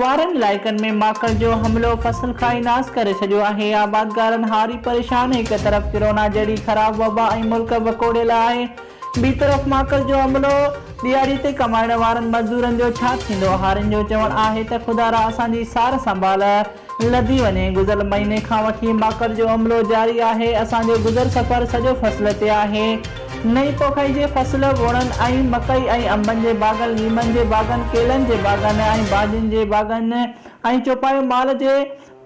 وارن علائقن ۾ ماڪل جو حملو فصل کائي ناس ڪري ڇڏيو آهي، آبادگارن هاري پريشان، هڪ طرف ڪرونا جهڙي خراب وبا ۽ ملڪ وڪوڙيل آهي، ٻي طرف ماڪل جو حملو، ڏهاڙي تي ڪمائڻ وارن مزدورن جو ڇا ٿيندو، هارين جو چوڻ آهي ته خدارا اسان جي سار سنڀال لڌي وڃي، گذريل مهيني کان وٺي ماڪل جو عملو جاري آهي، اسان جو گذر سفر سڄو فصل تي آهي. نئين پوکائي جي فصل، ووڻن ۽ مڪئي ۽ انبن جي باغن، ليمن جي باغن، ڪيلن جي باغن ۽ ڀاڄين جي باغن ۽ چوپايو مال جي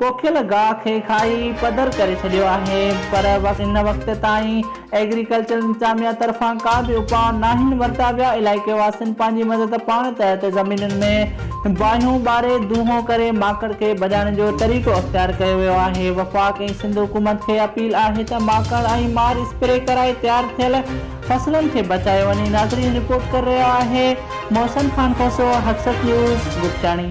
پوکيل گاهه کي کائي پڌر ڪري ڇڏيو آهي پر ان وقت تائين ايگريڪلچر انتظاميا طرفان ڪا به اپاء ناهن ورتا ويا علائقي واسين پنهنجي مدد پاڻ تحت زمينن ۾ بانهيون ٻاري دونهون ڪري ماڪڙ کي ڀڄائڻ جو طريقو اختيار ڪيو ويو آهي، وفاق ۽ سنڌ حڪومت کي اپيل آهي ته ماڪڙ ۽ مار اسپري ڪرائي تيار ٿيل فصلن کي بچايو وڃي، ناظرين رپورٽ ڪري رهيو آهي محسن خان کوسو، حقسٽ نيوز، بگٽاڻي.